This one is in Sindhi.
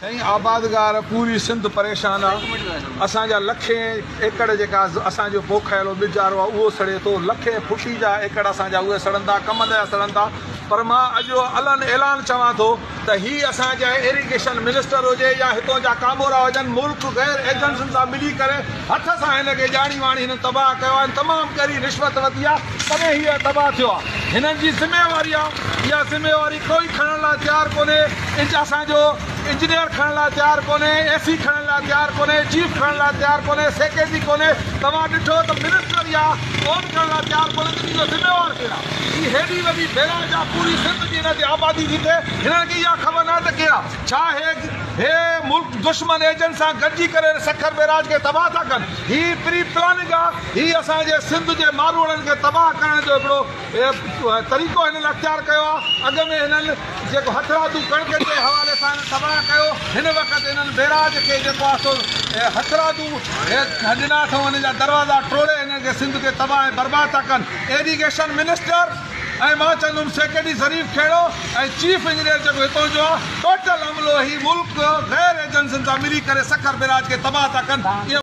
سائين آبادگار پوري سنڌ پريشان آ اسان جا لکين ايڪڙ جيڪا اسان جو پوکايلو ٻجارو آ اهو سڙي ٿو لکين خوشي جا ايڪڙ اسان جا اهي سڙن ٿا ڪم جا سڙن ٿا پر مان اڄ علن اعلان چوان ٿو ته هي اسان جا ايريگيشن منسٽر هجي يا هتون جا ڪامورا هجن ملڪ غير ايجنسين سان ملي ڪري هٿ سان هن کي ڄاڻي واڻي هنن تباهه ڪيو آ هن تمام ڳري رشوت وتي آ تڏهن هي تباهه ٿيو آ هنن جي ذميواري آ اها ذميواري ڪوئي کڻڻ لاء تيار ڪونهي اج اسان جو انجنيئر کڻڻ لاء تيار ڪونهي اي سي کڻڻ لاء تيار ڪونهي چيف کڻڻ لاء تيار ڪونهي سيڪريٽري ڪونهي توهان ڏٺو ته منسٽر يا اون ڪرڻ لاء تيار ڪونهي ته ان جو ذميوار ڪير آ هي هيڏي وڏي بئراج آ پوري سنڌ جي ان تي آبادي ٿي ٿئي هنن کي اها خبر ناهي ته ڪير آ ڇا هي ملڪ دشمن ايجنٽ سان گڏجي ڪري سکر بئراج کي تباهه ٿا ڪن هي پري پلاننگ آ هي اسان جي سنڌ جي ماروئڙن کي تباهه ڪرڻ جو هڪڙو طريقو هنن اختيار ڪيو آ اڳ ۾ هنن جيڪو هٿرادو ڪڻڪ جي حوالي سان هنن تباهه ڪيو هن وقت هنن بيراج کي جيڪو آ سو هٿرادو ڏنا اٿئون هنن جا دروازا ٽوڙي هنن کي سنڌ کي تباهه ۽ برباد ٿا ڪن ايريگيشن منسٽر ۽ مان چوندم secretary Zarif Khuhro ۽ chief engineer جيڪو هتئون جو آ ٽوٽل عملو هي ملڪ غير ايجنسين سان ملي ڪري سکر بيراج کي تباهه ٿا ڪن